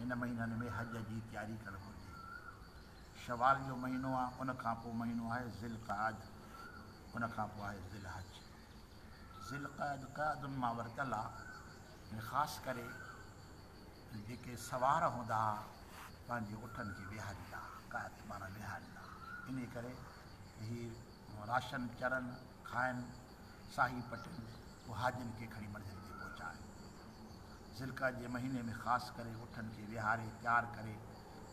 هن مهينن ۾ حج جي تياري ڪرڻ گهرجي. شوال جو مهينو آ ان کان پوء مهينو آهي ذي القعد ان کان پوء آهي ذي الحج. ذي القعد قعدن مان ورتل آ ۽ خاص ڪري جيڪي سوار هوندا ها پنهنجي اٺن کي ويهاريندا ها قعد معنيٰ ويهاريندا ها انهي ڪري ته هي راشن چرن کائن. ساهي پٽيل پهاجن کي کڻي منزل تي پهچا آهن. ذالقعدي جي مهيني ۾ خاص ڪري اٺن کي ويهاري تيار ڪري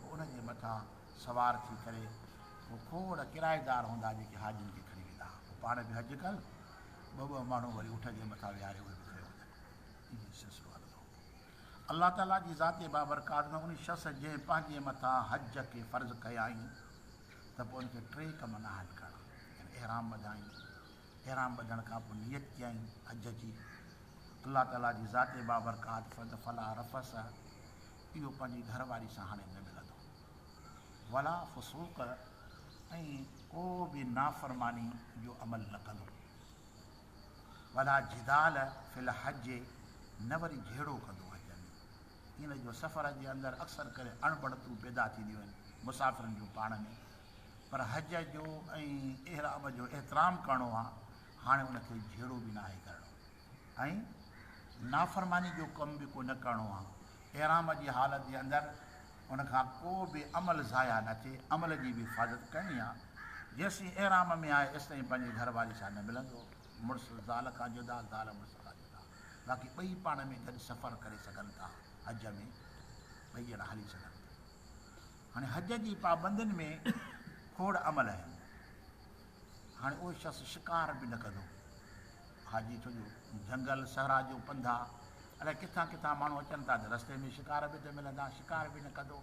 پوء ان جي مٿان سوار ٿي ڪري پوء کوڙ ڪرائيدار هوندا جيڪي حاجين کي کڻي ويندا ها پوء پاڻ به حج ڪن ٻه ٻه ماڻهو وري اٺ جي مٿان ويهاري اهي به کڻي وڃن ائين ئي سلسلو هلندو هو الله تعالي جي ذات بابرڪات ۾ ان شخص جنهن پنهنجي مٿان حج کي فرض ڪيائين ته پوء ان کي ٽي ڪم نه آهن ڪرڻا يعني احرام ٻڌائين احرام ٻڌڻ کان پوء نيت ڪيائين حج جي، الله تعاليٰ جي ذات بابرڪات فرد فلا رفث اهو پنهنجي گهر واري سان هاڻي نه ملندو، ولا فسوق ۽ ڪو به نافرماني جو عمل نه ڪندو، ولا جدال في الحج نه وري جهيڙو ڪندو حج ۾، ان جو سفر جي اندر اڪثر ڪري اڻ بڻتون پيدا ٿينديون آهن مسافرن جون پاڻ ۾ پر حج جو ۽ احرام جو احترام ڪرڻو آهي هاڻي ان کي جهيڙو به ناهي ڪرڻو ۽ نافرماني جو ڪم به ڪو نه ڪرڻو آهي احرام جي حالت جي اندر ان کان ڪو به عمل ضايع نه ٿئي عمل جي به حفاظت ڪرڻي آهي جيسين احرام ۾ آهي ايستائين پنهنجي گهر واري سان نه ملندو مڙس زال کان جدا زال مڙس کان جدا باقي ٻئي پاڻ ۾ گڏ سفر ڪري سگهن ٿا، حج ۾ ٻئي ڄڻا هلي سگهن ٿا. هاڻي حج جي پابندين ۾ کوڙ عمل آهن. هاڻي اهو شخص شڪار به نه ڪندو حاجي ڇو جو جهنگل صحرا جو پنڌ آ الائي ڪٿان ڪٿان ماڻهو اچن ٿا ته رستي ۾ شڪار به ته ملندا شڪار به نه ڪندو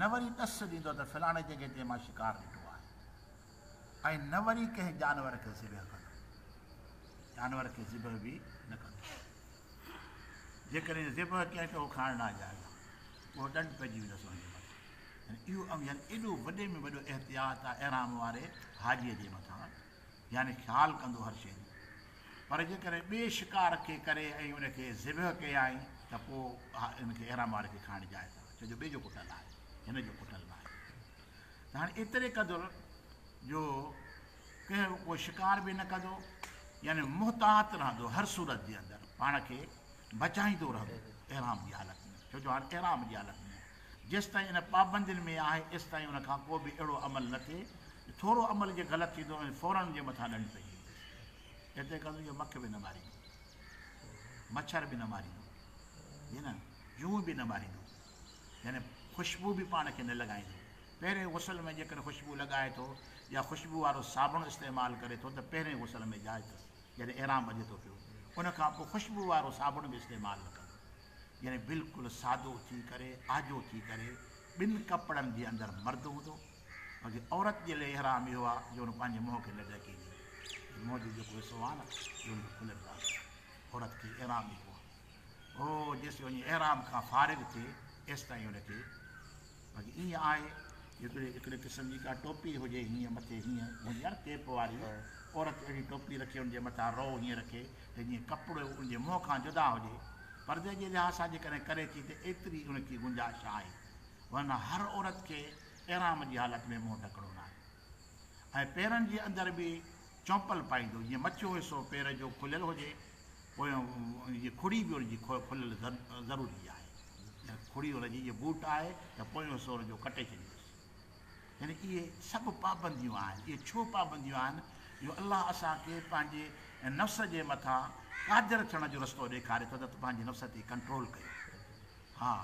نه وري ڏس ڏيندو ته فلاڻي جڳهه تي مان شڪار ڏٺو آهي ۽ نه وري ڪنهن جانور کي ذبح ڪندو. جانور کي ذبح به نه ڪندو. جيڪڏهن ذبح ڪيائين ته اهو کائڻ لاء جائز آهي. اهو ڏنڊ پئجي ويندس ان جي مٿان. يعني اهو اوهين ايڏو وڏي ۾ وڏو احتياط آهي احرام واري حاجيء جي مٿان يعني خيال ڪندو هر شيء جو. پر جيڪڏهن ٻئي شڪار کي ڪري ۽ ان کي ذبح ڪيائين ته پوء ان کي احرام واري کي کائڻ جائز آهي. ڇو جو ٻئي جو ڪٽل آهي. هن جو ڪٽل ناهي. ته هاڻي ايتري قدر جو ڪنهن جو ڪو شڪار به نه ڪندو يعني محتاط رهندو هر صورت جي اندر پاڻ کي بچائيندو رهندو احرام جي حالت ۾ ڇو جو هاڻي احرام جي حالت ۾ جيس تائين ان پابندين ۾ آهي ايس تائين ان کان ڪو به اهڙو عمل نه ٿئي ٿورو عمل جي غلط ٿيندو ۽ فورن جي مٿان ڏنڊ پئجي ويندس هتي ڪندو جو مک به نه ماريندو مڇر به نه ماريندو جي نه جون به نه ماريندو يعني خوشبو به پاڻ کي نه لڳائيندو. پهرين غسل ۾ جيڪڏهن خوشبو لڳائي ٿو يا خوشبو وارو صابڻ استعمال ڪري ٿو ته پهرين غسل ۾ جائز اٿس جڏهن احرام ٻڌي ٿو پيو ان کان پوء خوشبو وارو صابڻ به استعمال نه ڪندو يعني بلڪل سادو ٿي ڪري آجو ٿي ڪري ٻن ڪپڙن جي اندر مرد هوندو باقي عورت جي لئي احرام اهو آ جو هن پنهنجي منهن کي نه ڍڪيندي منهن جو جيڪو حصو آ نه اهو کليل رهندو عورت کي احرام اهو آ هو جيسين وڃي احرام کان فارغ ٿئي ايستائين هن کي باقي ائين آهي هڪڙي هڪڙي قسم جي ڪا ٽوپي هجي هيئن مٿي هيئن هوندي آهي ڪيپ واري عورت اهڙي ٽوپي رکي ان جي مٿان رو هيئن رکي ته جيئن ڪپڙو ان جي منهن کان جدا هجي پردي جي لحاظ سان جيڪڏهن ڪري ٿي ته ايتري ان کي گنجائش آهي ورنه هر عورت کي احرام جي حالت ۾ منهن ڍڪڻو ناهي ۽ پيرن جي اندر به چمپل پائيندو جيئن مٿيون حصو پير جو کليل هجي پويون جي کڙي به ان جي کليل ضروري آهي ۽ کڙي ان جي جي بوٽ آهي ته پويون حصو ان جو ڪٽي ڇڏيوس يعني اهي سڀ پابنديون آهن اهي ڇو پابنديون آهن جو الله اسان کي پنهنجي نفس جي مٿان قادر ٿيڻ جو رستو ڏيکاري ٿو ته پنهنجي نفس تي ڪنٽرول ڪيو ها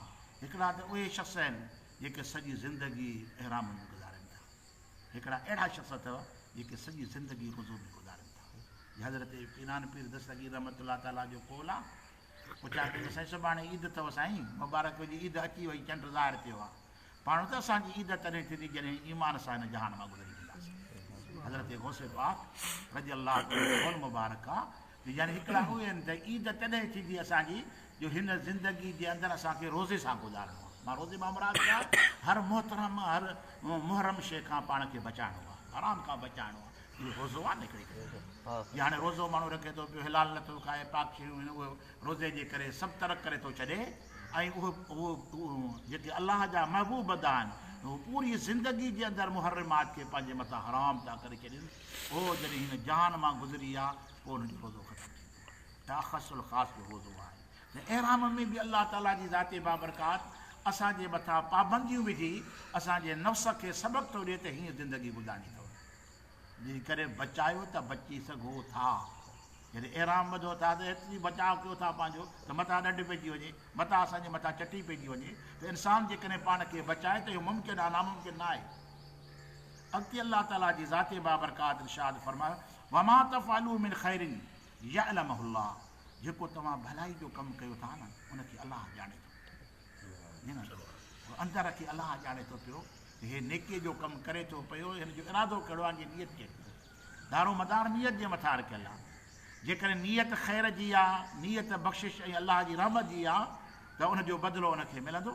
هڪڙا ته اهي شخص آهن جيڪي سڄي زندگي احرام ۾ گذارين ٿا. هڪڙا اهڙا شخص اٿو جيڪي سڄي زندگي وضو ۾ گذارين ٿا. هي حضرت ڪينان پير دستگير رحمة الله تعالٰي جو قول آ. پوء چيا پيا ته سائين سڀاڻي عيد اٿو سائين مبارڪ هجي عيد اچي وئي چنڊ ظاهر ٿيو آ. پاڻ ته اسان جي عيد تڏهن ٿيندي جڏهن ايمان سان هن جهان مان گذري وينداسين. حضرت غوث پاڪ رضي الله عنه جو قول مبارڪ آ يعني هڪڙا اهي آهن ته عيد تڏهن ٿيندي اسان جي جو هن زندگي جي اندر اسان کي روزي سان گذارڻو آهي. مان روزي مان مراد ڇا؟ هر محترم هر محرم شيء کان پاڻ کي بچائڻو آهي. حرام کان بچائڻو آهي. اهو روزو آهي نه هڪڙي قسم جو. جي هاڻي روزو ماڻهو رکي ٿو پيو حلال نه ٿو کائي پاڪ شيون هن اهي روزي جي ڪري سڀ ترڪ ڪري ٿو ڇڏي ۽ اهي اهي جيڪي الله جا محبوب بندا آهن اهي پوري زندگي جي اندر محرمات کي پنهنجي مٿان حرام ٿا ڪري ڇڏين. پوء جڏهن هن جهان مان گذري ويا پوء ان جو روزو ختم ٿي ويو ته اخص الخاص جو روزو آهي ته احرام ۾ به الله تعالي جي ذات بابرڪات اسان جي مٿان پابنديون وجهي اسان جي نفس کي سبق ٿو ڏي ته هينئن زندگي گذارڻي اٿو جي ڪري بچايو ته بچي سگهو ٿا جڏهن احرام ٻڌو ٿا ته ايتري بچاء ڪيو ٿا پنهنجو ته مٿان ڏڍ پئجي وڃي مٿان اسان جي مٿان چٽي پئجي وڃي ته انسان جيڪڏهن پاڻ کي بچائي ته اهو ممڪن آهي ناممڪن نه آهي اڳتي الله تعالي جي ذات بابرڪات ارشاد فرمايو، وما تفعلوا من خير يعلمه الله جيڪو توهان ڀلائي جو ڪم ڪيو ٿا نه ان کي الله ڄاڻي ٿو. جي نه اندر کي الله ڄاڻي ٿو پيو ته هي نيڪي جو ڪم ڪري ٿو پيو هن جو ارادو ڪهڙو آهي جي نيت ڪهڙي آهي. دارو مدار نيت جي مٿان رکيل آهي. جيڪڏهن نيت خير جي آهي، نيت بخشش ۽ الله جي رحمت جي آهي ته ان جو بدلو ان کي ملندو.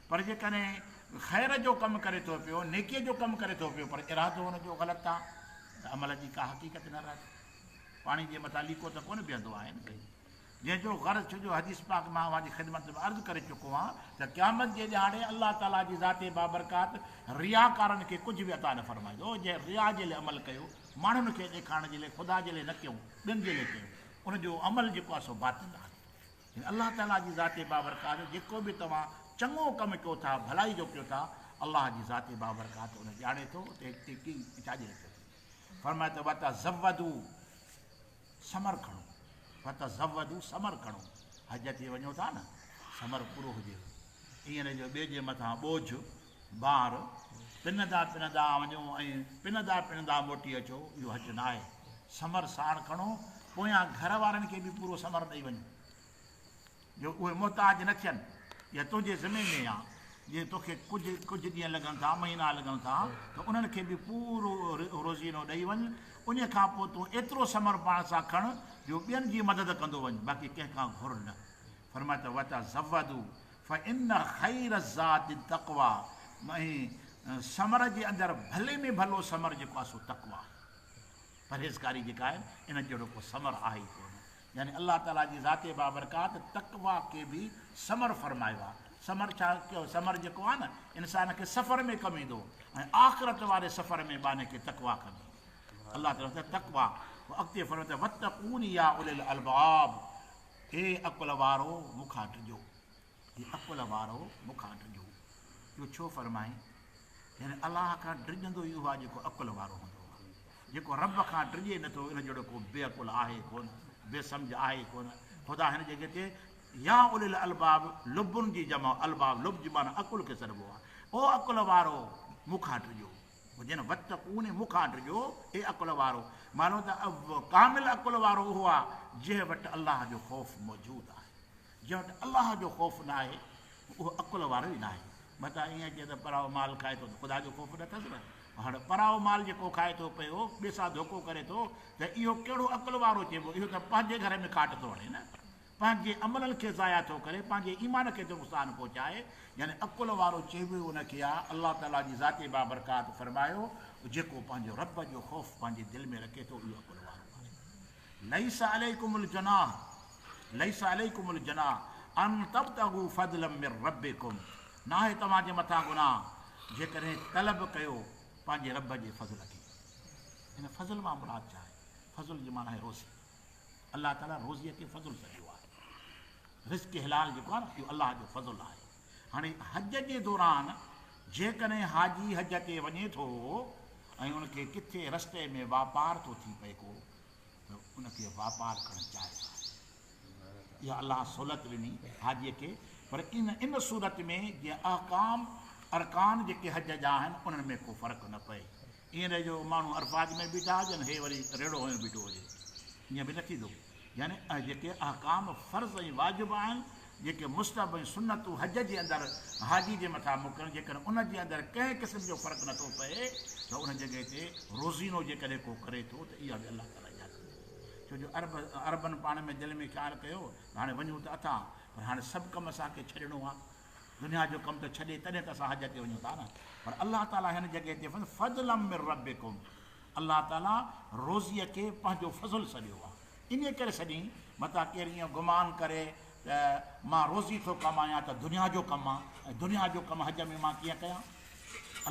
پر جيڪڏهن خير جو ڪم ڪري ٿو پيو، نيڪيء جو ڪم ڪري ٿو پيو پر ارادو ان جو غلط آ ته عمل جي ڪا حقيقت نه رهندي. پاڻي جي مٿان ليڪو ته ڪونه بيهندو آهي نه سائين. جنهن جو غرض ڇو جو حديث پاڪ مان اوهان جي خدمت ۾ عرض ڪري چڪو آهيان ته قيامت جي ڏهاڙي الله تعاليٰ جي ذات بابرڪات رياڪارن کي ڪجهه به عطا نه فرمائيندو جنهن ريا جي لئه عمل ڪيو ماڻهن کي ڏيکارڻ جي لئه خدا جي لئه نه ڪيو ٻين جي لئه ڪيو ان جو عمل جيڪو آهي سو باطل آهي. هن الله تعاليٰ جي ذات بابرڪات جو جيڪو به توهان چڱو ڪم ڪيو ٿا، ڀلائي جو ڪيو ٿا، الله جي ذات بابرڪات ان ڄاڻي ٿو ته هي ڪي ڇاجي لاء ڪيو اٿئي. فرمايو ته وتزودو، ثمر کڻو، وتزودو، ثمر کڻو، حج تي وڃو ٿا نه، ثمر پورو هجيو. ايئن نه جو ٻئي جي مٿان ٻوجهه بار، پنندا پنندا وڃو ۽ پنندا پنندا موٽي اچو، اهو حج نه آهي. ثمر ساڻ کڻو، پويان گهر وارن کي به پورو ثمر ڏئي وڃ، جو اهي محتاج نه ٿين. اها تنهنجي ذمي ۾ آهي. جي توکي ڪجهه ڪجهه ڏينهن لڳن ٿا، مهينا لڳن ٿا، ته انهن کي به پورو روزينو ڏئي وڃ. انهيء کان پوء تون ايترو ثمر پاڻ سان کڻ، جو ٻين جي مدد ڪندو وڃ، باقي ڪنهن کان گهر نه. فرمايو ته وتزودوا، فإن خير الزاد التقويٰ ۽ ثمر جي اندر ڀلي ۾ ڀلو ثمر جيڪو آهي سو تقويٰ آهي، پرهيزڪاري جيڪا آهي، ان جهڙو ڪو ثمر آهي ئي ڪونه. يعني الله تعاليٰ جي ذات بابرڪات تقويٰ کي به ثمر فرمايو آهي. ثمر ڇا؟ ثمر جيڪو آهي نه انسان کي سفر ۾ ڪم ايندو ۽ آخرت واري سفر ۾ بانهه کي تقويٰ ڪندي. الله تعاليٰ فرمائي ٿو تقويٰ. پوء اڳتي فرمائي ٿو واتقون يا اولي الالباب. اي عقل وارؤ مون کان ڊڄو. اي عقل وارؤ مون کان ڊڄو. اهو ڇو فرمائين؟ يعني الله کان ڊڄندو ئي اهو آهي جيڪو عقل وارو هوندو آهي. جيڪو رب کان ڊڄي نه ٿو ان جهڙو ڪو بي عقل آهي ڪونه، بي سمجهه آهي ڪونه. خدا هن جڳهه تي يا اولي الالباب لبن جي جمع الباب لب جي معنيٰ عقل کي سڏبو آهي. او عقل وارؤ مون کان ڊڄو. جنھن وقت اونھي مون کان ڊڄو، اي عقل وارؤ! معلوم ته ڪامل عقل وارو اھو آھي، جنھن وٽ الله جو خوف موجود آھي. جنھن وٽ الله جو خوف ناھي، اھو عقل وارو ئي ناھي. متان ائين اچي ته پرايو مال کائي ٿو ته خدا جو خوف نه اٿس نه؟ ھاڻ پرايو مال جيڪو کائي ٿو پيو، ٻئي سان ڌوڪو ڪري ٿو، ته اھو ڪھڙو عقل وارو چئبو؟ اھو ته پنھنجي گھر ۾ کاٽ ٿو ھڻي نه؟ پنهنجي عملن کي ضايع ٿو ڪري، پنهنجي ايمان کي ٿو نقصان پهچائي، يعني عقل وارو چئبو ئي ان کي آ، الله تعاليٰ جي ذات بابرڪات فرمايو، جيڪو پنهنجي رب جو خوف پنهنجي دل ۾ رکي ٿو اهو عقل وارو آهي. ليس عليڪم الجناح ليس عليڪم الجناح ان تبتغوا فضلا من ربکم ناهي توهان جي مٿان گناهه جيڪڏهن طلب ڪيو پنهنجي رب جي فضل کي. هن فضل مان مراد ڇا آهي؟ فضل جي معنيٰ آهي روزي. الله تعالي روزي کي فضل سڏيو آهي رزق حلال جيڪو آهي نه اهو الله جو فضل آهي هاڻي حج جي دوران جيڪڏهن حاجي حج تي وڃي ٿو ۽ ان کي ڪٿي رستي ۾ واپار ٿو ٿي پئي ڪو ته ان کي واپار ڪرڻ جائز آهي اها الله سهولت ڏني حاجي کي پر ان ان صورت ۾ جيئن احڪام ارڪان جيڪي حج جا آهن انهن ۾ ڪو فرق نه پئي ائين نه جو ماڻهو عرفات ۾ بيٺا هجن هي وري ريڙهو هنيو بيٺو هجي ائين به نه ٿيندو يعني اهي جيڪي احڪام فرض ۽ واجب آهن جيڪي مستحب ۽ سنتون حج جي اندر حاجي جي مٿان مڪن جيڪڏهن ان جي اندر ڪنهن قسم جو فرق نه ٿو پئي ته ان جڳهه تي روزينو جيڪڏهن ڪو ڪري ٿو ته اها به الله تعالي اجازت ڏئي ٿو ڇو جو عرب عربن پاڻ ۾ دل ۾ خيال ڪيو ته هاڻي وڃون ته اٿا پر هاڻي سڀ ڪم اسان کي ڇڏڻو آهي دنيا جو ڪم ٿو ڇڏي تڏهن ته اسان حج تي وڃون ٿا نه پر الله تعالي هن جڳهه تي فرمايو فضلا من ربڪم الله تعالي روزي کي پنهنجو فضل سڏيو آهي انهي ڪري سڏين متان ڪير ايئن گمان ڪري ته مان روزي ٿو ڪمايان ته دنيا جو ڪم آهي ۽ دنيا جو ڪم حج ۾ مان ڪيئن ڪيان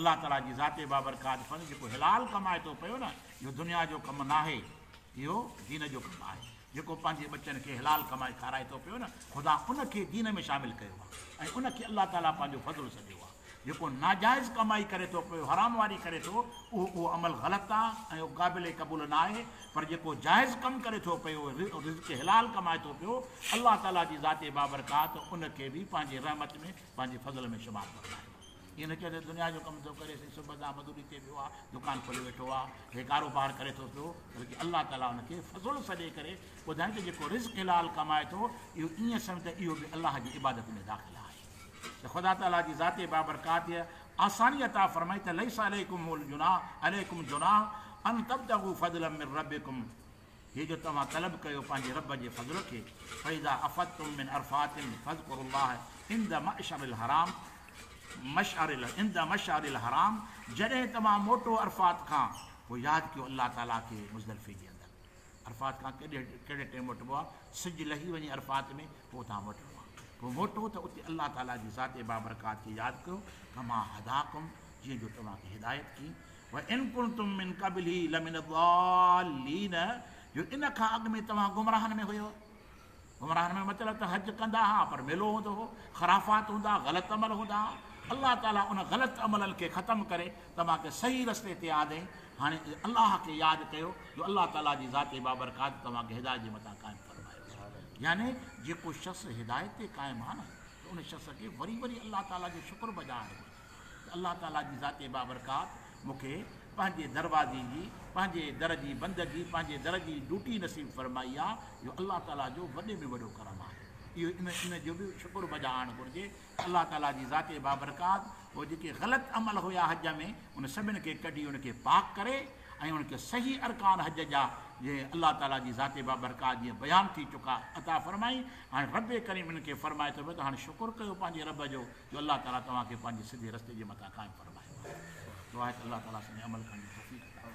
الله تعالي جي ذات بابرڪات فرمائي جيڪو حلال ڪمائي ٿو پيو نه اهو دنيا جو ڪم ناهي اهو دين جو ڪم آهي، جيڪو پنهنجي ٻچن کي حلال ڪمائي کارائي ٿو پيو نه، خدا ان کي دين ۾ شامل ڪيو آهي ۽ ان کي الله تعاليٰ پنهنجو فضل سڏيو آهي. جيڪو ناجائز ڪمائي ڪري ٿو پيو، حرام واري ڪري ٿو، اهو اهو عمل غلط آهي ۽ اهو قابل قبول نه آهي، پر جيڪو جائز ڪم ڪري ٿو پيو، رزق حلال ڪمائي ٿو پيو، الله تعاليٰ جي ذات بابرڪات ان کي به پنهنجي رحمت ۾، پنهنجي فضل ۾ شمار فرمايو آهي. ايئن نه چئو ته دنيا جو ڪم ٿو ڪري سائين صبح کان مزوري تي ويو آهي دڪان کولي ويٺو آهي هي ڪاروبار ڪري ٿو پيو بلڪه الله تعاليٰ ان کي فضل سڏي ڪري ٻڌائين ته جيڪو رزق حلال ڪمائي ٿو اهو ايئن سمجھ ته اهو به الله جي عبادت ۾ داخل آهي ته خدا تعاليٰ جي ذات بابرڪات آساني عطا فرمائي ته ليس عليكم الجناح عليكم جناح ان تبتغوا فضلا من ربكم هي جو توهان طلب ڪيو پنهنجي رب جي فضل کي، فاذا افضتم من عرفات فاذڪروا الله عند مشعر الحرام مشعر عند مشعر الحرام جڏهن توهان موٽو عرفات کان پوء ياد ڪيو الله تعالي کي مزدلفي جي اندر عرفات کان ڪهڙي ڪهڙي ٽيم موٽبو آهي سج لهي وڃي عرفات ۾ پوء اتان موٽڻو آهي پوء موٽو ته اتي الله تعالي جي ذات بابرڪات کي ياد ڪيو ڪما هداڪم جيئن جو توهان کي هدايت ڪي وَإِن كُنتُم مِن قَبْلِهِ لَمِنَ الضَّالِّينَ جو ان کان اڳ ۾ توهان گمراهن ۾ هيؤ. گمراهن ۾ مطلب ته حج ڪندا ها پر ميلو هوندو هو، خرافات هوندا، غلط عمل هوندا ها. الله تعاليٰ ان غلط عملن کي ختم ڪري توهان کي صحيح رستي تي آندين. هاڻي الله کي ياد ڪيو جو الله تعاليٰ جي ذات بابرڪات توهان کي هدايت جي مٿان قائم فرمايو. يعني جيڪو شخص هدايت تي قائم آهي نه ته ان شخص کي وري وري الله تعاليٰ جو شڪر بجا آڻڻ گهرجي. الله تعاليٰ جي ذات بابرڪات مون کي پنهنجي دروازي جي، پنهنجي در جي بندگي، پنهنجي در جي ڊوٽي نصيب فرمائي آ، اهو الله تعاليٰ جو وڏي ۾ وڏو ڪرم آهي. اهو ان ان جو به شڪر بجا آڻڻ گهرجي ته الله تعاليٰ جي ذات بابرڪات اهي جيڪي غلط عمل هيا حج ۾ ان سڀن کي ڪڍي ان کي پاڪ ڪري ۽ ان کي صحيح ارڪان حج جا جي الله تعاليٰ جي ذات بابرڪات جيئن بيان ٿي چڪا عطا فرمائي هاڻي رب ڪريم انهن کي فرمائي ٿو ته هاڻي شڪر ڪيو پنهنجي رب جو جو الله تعالي توهان کي پنهنجي سڌي رستي جي مٿان قائم فرمايو آهي. دعا آهي ته الله تعالي اسان کي عمل ڪرڻ جي توفيق عطا.